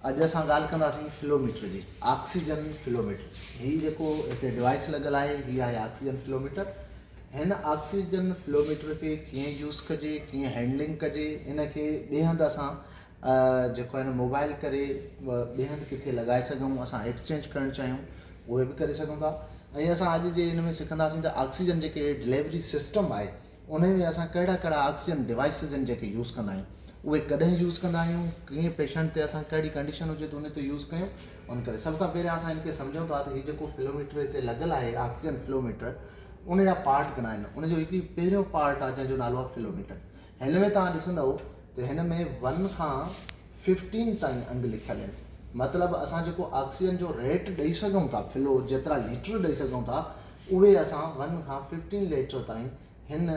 اڄ اسان ڳالهه ڪنداسين فلو ميٽر جي آڪسيجن فلو ميٽر هي جيڪو هتي ڊوائيس لڳل آهي هي آهي آڪسيجن فلو ميٽر هن آڪسيجن فلو ميٽر کي ڪيئن يوز ڪجي ڪيئن هينڊلنگ ڪجي ان کي ٻئي هنڌ اسان جيڪو آهي موبائل ڪري ٻئي هنڌ ڪٿي لڳائي سگهون اسان ايڪسچينج ڪرڻ چاهيون اهي به ڪري سگهون ٿا ۽ اسان اڄ جي هن ۾ سکنداسين ته آڪسيجن جيڪي ڊليوري سسٽم آهي انهي ۾ اسان ڪهڙا ڪهڙا آڪسيجن ڊوائسز آهن جيڪي يوز ڪندا آهيون اهي ڪڏهن يوز ڪندا آهيون ڪئين پيشنٽ تي اسان ڪهڙي ڪنڊيشن هجي ته ان تي يوز ڪيون ان ڪري سڀ کان پهريان اسان ان کي سمجهون ٿا ته هي جيڪو فلو ميٽر هتي لڳل آهي آڪسيجن فلو ميٽر ان جا پارٽ گهڻا آهن ان جو هڪ هي پهريون پارٽ آهي جنهن جو نالو آهي فلو ميٽر هن ۾ تان ڏسندو ته هن ۾ ون کان ففٽين تائين انگ لکيل آهن مطلب اسان جيڪو آڪسيجن جو ريٽ ڏئي سگهون ٿا فلو جيترا ليٽر ڏئي سگهون ٿا اهي اسان ون کان ففٽين ليٽر تائين هن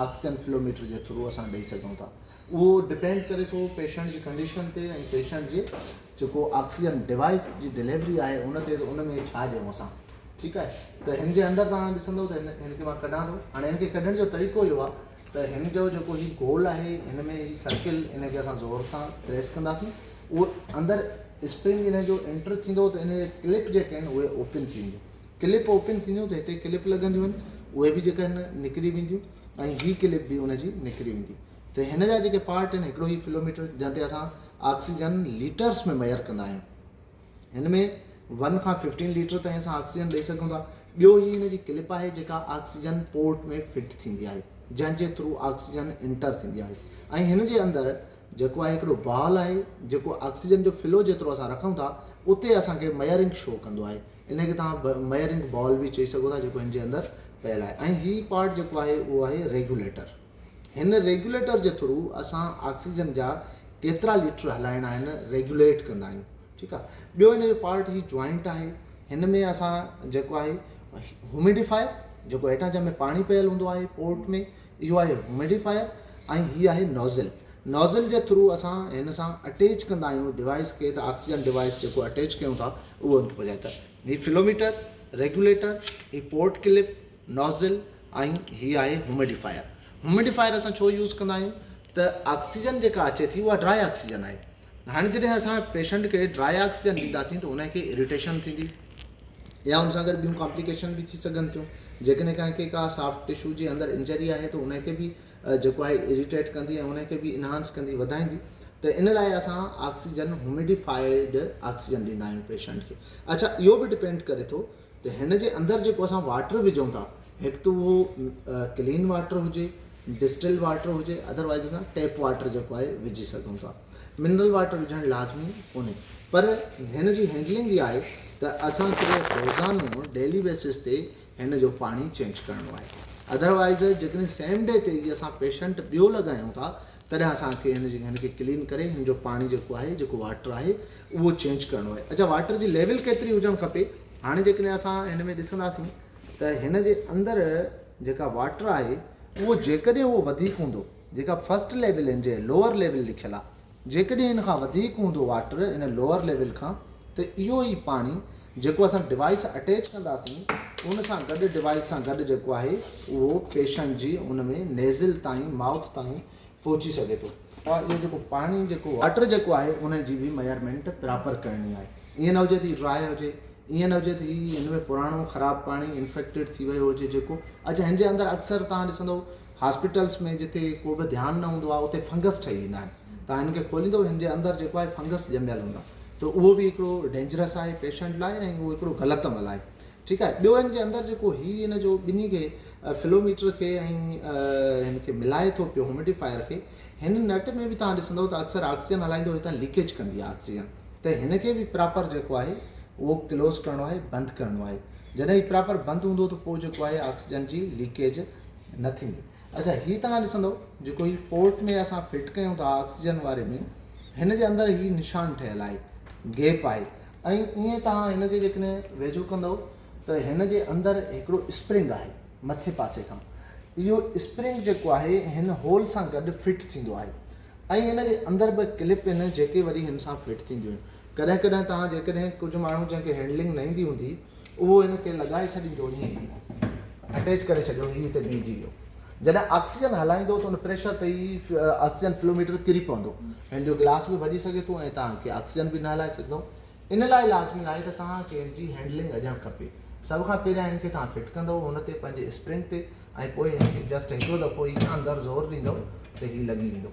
آڪسيجن فلو ميٽر جي ٿرو اسان ڏئي سگهون ٿا اهو ڊپينڊ ڪري ٿو پيشنٽ جي ڪنڊيشن تي ۽ پيشنٽ جي جيڪو آڪسيجن ڊوائيس جي ڊليوري آهي ان تي ان ۾ ڇا ڏيون اسان ٺيڪ آهي ته هن جي اندر توهان ڏسندو ته هن هن کي مان ڪڍان ٿو هاڻي هن کي ڪڍڻ جو طريقو اهو آهي ته هن جو جيڪو هي گول آهي هن ۾ هي سرڪل ان کي اسان زور سان پريس ڪنداسين اهو اندر اسپرنگ ان جو انٽر ٿيندو ته ان جي ڪلپ جيڪي آهن اهي اوپن ٿينديون ڪلپ اوپن ٿينديون ته هتي ڪلپ لڳنديون آهن اهي به جيڪا آهن نڪري وينديون ۽ هي ڪلپ به ان جي نڪري ويندي ته هن جا جيڪي پارٽ آهن هڪڙو هي فلو ميٽر جنهن تي اسان آڪسيجن ليٽرس ۾ ميئر ڪندا آهيون هن ۾ ون کان ففٽين ليٽر تائين اسان آڪسيجن ڏيئي سگھون ٿا ٻيو هي هن جي ڪلپ آهي جيڪا آڪسيجن پورٽ ۾ فٽ ٿيندي آهي جنهن جي ٿرو آڪسيجن انٽر ٿيندي آهي ۽ هن جي اندر جيڪو آهي هڪڙو بال آهي جيڪو آڪسيجن جو فلو جيترو اسان رکون ٿا اتي اسانکي ميئرنگ شو ڪندو آهي ان کي توهان ميئرنگ بال به چئي سگهو ٿا جيڪو هن جي اندر پيل آهي ۽ هي پارٽ جيڪو آهي اهو آهي ريگوليٽر هن ريگوليٽر جي ٿرو اسان آڪسيجن جا ڪيترا ليٽر هلائڻا آهن ريگوليٽ ڪندا آهيون ٺيڪ آ ٻيو ان جو پارٽ هي جوائنٽ آهي هن ۾ اسان جيڪو آهي هيوميڊيفائر جيڪو هيٺان جنهن ۾ پاڻي پيل هوندو آهي پورٽ ۾ اهو آهي هوميڊيفائر ۽ هي آهي نوزل نوزل جي ٿرو اسان هن سان اٽيچ ڪندا آهيون ڊوائيس کي ته آڪسيجن ڊوائيس جيڪو اٽيچ ڪيون ٿا اهو ان کي پهچائي ته هي فلو ميٽر ريگوليٽر هي پورٽ ڪلپ نوزل ۽ هي آهي هوميڊيفائر هوميڊيفائر اسان ڇو يوز ڪندا آهيون ته آڪسيجن جيڪا اچي ٿي اها ڊرائي آڪسيجن آهي هاڻي جڏهن اسان پيشنٽ کي ڊرائي آڪسيجن ڏينداسين ته ان کي اريٽيشن ٿيندي يا ان سان گڏ ٻيون ڪامپليڪيشن به ٿي سگهن ٿيون جيڪڏهن ڪنهن کي ڪا سافٽ ٽشو جي اندر انجري آهي ته ان کي به جيڪو آهي اريٽيٽ ڪندي ۽ ان کي به انهانس ڪندي وڌائيندي ته ان لاء اسان آڪسيجن هوميڊيفائيڊ آڪسيجن ڏيندا آهيون پيشنٽ کي اڇا اهو به ڊپينڊ ڪري ٿو ته هن جي اندر جيڪو اسان واٽر وجهون ٿا هڪ ته اهو ڪلين واٽر هجي ڊسٽل واٽر هجي اڌروائز اسان ٽيپ واٽر جيڪو آهي وجهي سگهون ٿا منرل واٽر وجهڻ لازمي ڪونهي پر هن جي هينڊلنگ اها آهي ته اسانکي روزانو ڊيلي بيسس تي هن جو پاڻي چينج ڪرڻو آهي اڌروائز جيڪڏهن سيم ڊي تي ئي اسان پيشنٽ ٻيو لڳايون ٿا تڏهن اسان کي هن جي هن کي ڪلين ڪري هن جو پاڻي جيڪو آهي جيڪو واٽر آهي اهو چينج ڪرڻو آهي اچا واٽر جي ليول ڪيتري هجڻ کپي هاڻي جيڪڏهن اسان هن ۾ ڏسنداسين ته هن جي اندر جيڪا واٽر آهي اهو جيڪڏهن اهو وڌيڪ هوندو جيڪا فرسٽ ليول هن جي لوور ليول لکيل آهي جيڪڏهن هن کان وڌيڪ هوندو واٽر هن لوور ليول کان ته اهو ئي پاڻي جيڪو اسان ڊوائيس اٽيچ ڪنداسين ان سان گڏ ڊوائيس سان گڏ جيڪو آهي اهو پيشنٽ جي ان ۾ نيزل تائين مائوٿ تائين پهچي سگهي ٿو ها اهو جيڪو پاڻي جيڪو واٽر جيڪو آهي ان جي به ميئرمينٽ پراپر ڪرڻي آهي ائين نه هجي ته هي ڊرائي هجي ائين نه هجي ته هي هن ۾ پراڻو خراب پاڻي انفيڪٽيڊ ٿي ويو هجي جيڪو اچا هن جي اندر اڪثر تان ڏسندو هاسپيٽلس ۾ جتي ڪو به ڌيان نه هوندو آهي اتي فنگس ٺهي ويندا آهن توهان هن کي کوليندو هن جي اندر جيڪو آهي فنگس ڄميل هوندا ته اهو به هڪڙو ڊينجرس آهي پيشنٽ لاء ۽ اهو هڪڙو غلط عمل آهي ٺيڪ آهي ٻيو هن جي اندر جيڪو هي هن جو ٻنهي کي فلو ميٽر کي ۽ هن کي ملائي ٿو پيو هوميڊيفائر کي هن نٽ ۾ به توهان ڏسندو ته اڪثر آڪسيجن هلائيندو هتان ليڪيج ڪندي آهي آڪسيجن ته هن کي به پراپر جيڪو آهي اهو ڪلوز ڪرڻو آهي بند ڪرڻو آهي جڏهن هي پراپر بند هوندو ته پوء جيڪو آهي آڪسيجن جي ليڪيج نه ٿيندي اڇا هي توهان ڏسندو جيڪو هي پورٽ ۾ اسان فٽ ڪيون ٿا آڪسيجن واري ۾ هن جي اندر هي نشان ٺهيل آهي گيپ آهي ۽ ائين توهان هن جي جيڪڏهن ويجهو ڪندو ته هن جي اندر هڪڙو اسپرنگ آهي مٿي پاسي کان اهو اسپرنگ جيڪو آهي هن هول سان گڏ فٽ ٿيندو آهي ۽ هن جي اندر به ڪلپ آهن جيڪي وري هن سان فٽ ٿينديون آهن ڪڏهن ڪڏهن توهان جيڪڏهن ڪجهه ماڻهو جنهن کي هينڊلنگ نه ايندي هوندي اهو هن کي لڳائي ڇڏيندو ائين ئي اٽيچ ڪري ڇڏيو هي هتي بيهجي ويو جڏهن آڪسيجن هلائيندو ته ان پريشر تي ئي آڪسيجن فلو ميٽر ڪري پوندو هن جو گلاس به ڀڄي سگهي ٿو ۽ توهان کي آڪسيجن به نه هلائي سگهندو ان لاء لازمي آهي ته توهان کي هن جي هينڊلنگ اڄڻ کپي سڀ کان پهريان هن کي توهان فٽ ڪندو هن تي پنهنجي اسپرنگ تي ۽ پوء هن کي جسٽ هڪڙو دفعو ئي اندر زور ڏيندو ته هي لڳي ويندو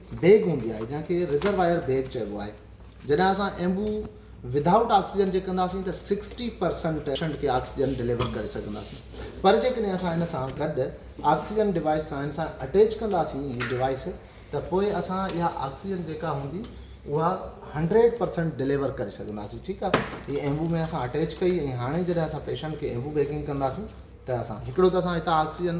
بيگ هوندي آهي جنهن کي رزرواير بيگ چئبو آهي جڏهن اسان ايمبو وڌائوٽ آڪسيجن جي ڪنداسين ته سڪسٽي پرسنٽ پيشنٽ کي آڪسيجن ڊليور ڪري سگهنداسين پر جيڪڏهن اسان ان سان گڏ آڪسيجن ڊوائيس سائن سان اٽيچ ڪنداسين هي ڊوائيس ته پوء اسان اها آڪسيجن جيڪا هوندي اها هنڊريڊ پرسنٽ ڊليور ڪري سگهنداسين ٺيڪ آهي هي ايمبو ۾ اسان اٽيچ ڪئي ۽ هاڻي جڏهن اسان پيشنٽ کي ايمبو بيگنگ ڪنداسين ته اسان هڪڙو ته اسان هتان آڪسيجن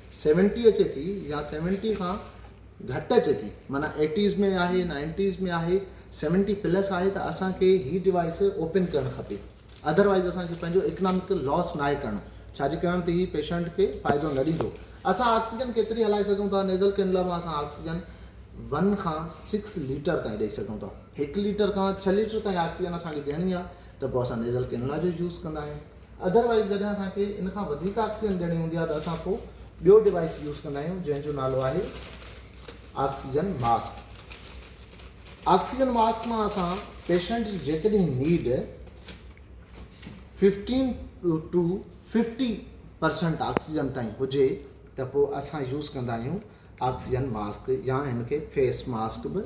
سيونٽي اچي ٿي يا سيونٽي کان گهٽ اچي ٿي معنيٰ ايٽيز ۾ آهي نائنٽيز ۾ آهي سيونٽي پلس آهي ته اسان کي هي ڊوائيس اوپن ڪرڻ کپي اڌر وائيز اسان کي پنهنجو اڪنامڪ لاس ناهي ڪرڻو ڇاجي ڪرڻ تي هي پيشنٽ کي فائدو نه ڏيندو اسان آڪسيجن ڪيتري هلائي سگهون ٿا نيزل ڪينولا مان اسان آڪسيجن ون کان سڪس ليٽر تائين ڏيئي سگهون ٿا هڪ ليٽر کان ڇهه ليٽر تائين آڪسيجن اسان کي ڏيڻي آهي ته پوء اسان نيزل ڪينولا جو يوز ڪندا آهيون اڌر وائيز جڏهن اسان کي ان کان وڌيڪ آڪسيجن ڏيڻي هوندي آهي ته اسان ڪو ٻيو ڊوائيس يوز ڪندا آهيون جنهن جو نالو آهي آڪسيجن ماسڪ آڪسيجن ماسڪ مان اسان پيشنٽ جي جيڪڏهن need fifteen to fifty percent oxygen تائين هجي ته پوء اسان يوز ڪندا آهيون آڪسيجن ماسڪ يا هن کي فيس ماسڪ به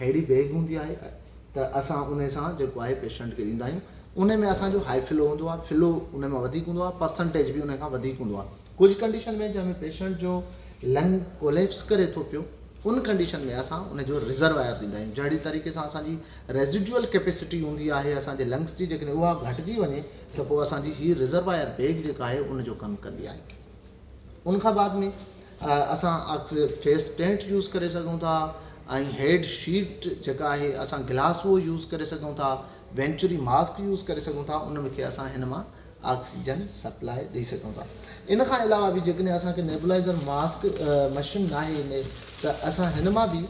اهڙي بيگ هوندي آهي ته اسان ان سان جيڪو آهي پيشنٽ کي ڏيندا آهيون ان ۾ اسان جو هائي فلو هوندو آهي فلو ان ۾ وڌيڪ هوندو آهي پرسنٽيج به ان کان وڌيڪ هوندو آهي ڪجهه ڪنڊيشن ۾ جنهن ۾ پيشنٽ جو لنگ ڪوليپس ڪري ٿو پيو ان ڪنڊيشن ۾ اسان ان جو رزرواير ڏيندا آهيون جهڙي طريقي سان اسانجي ريزيڊوئل ڪيپيسٽي هوندي آهي اسانجي لنگس جي جيڪڏهن اها گهٽجي وڃي ته پوء اسانجي هي رزرواير بيگ جيڪا آهي ان جو ڪم ڪندي آهي ان کان بعد ۾ اسان عڪس فيس ٽينٽ يوز ڪري سگهون ٿا ۽ هيڊ شيٽ جيڪا آهي اسان گلاس اهو يوز ڪري سگهون ٿا وينچري ماسڪ يوز ڪري سگهون ٿا ان ۾ کي اسان هن مان آڪسيجن سپلاء ڏئي سگهون ٿا ان کان علاوه به جيڪڏهن اسانکي نيبلائزر ماسڪ مشين نه آهي ان ته اسان هن مان به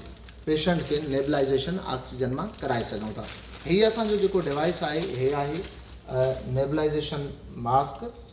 پيشنٽ کي نيبلائزيشن آڪسيجن مان ڪرائي سگهون ٿا هي اسانجو جيڪو ڊوائس آهي هي آهي نيبلائزيشن ماسڪ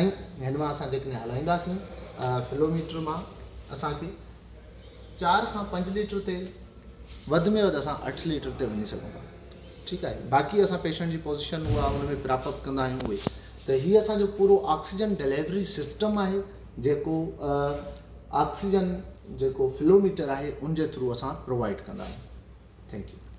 ۽ هن مان اسان جيڪڏهن هلائينداسين فلو ميٽر مان اسان کي چار کان پنج ليٽر تيل وڌ ۾ وڌ اسان اٺ ليٽر تي وڃي سگهون ٿا ٺيڪ آهي باقي اسان پيشنٽ جي پوزيشن هو هن ۾ پراپ اپ ڪندا آهيون اهي ته هي اسانجو پورو آڪسيجن ڊليوري سسٽم آهي جيڪو آڪسيجن جيڪو فلو ميٽر آهي ان جي ٿرو اسان پرووائڊ ڪندا آهيون ٿينڪ يو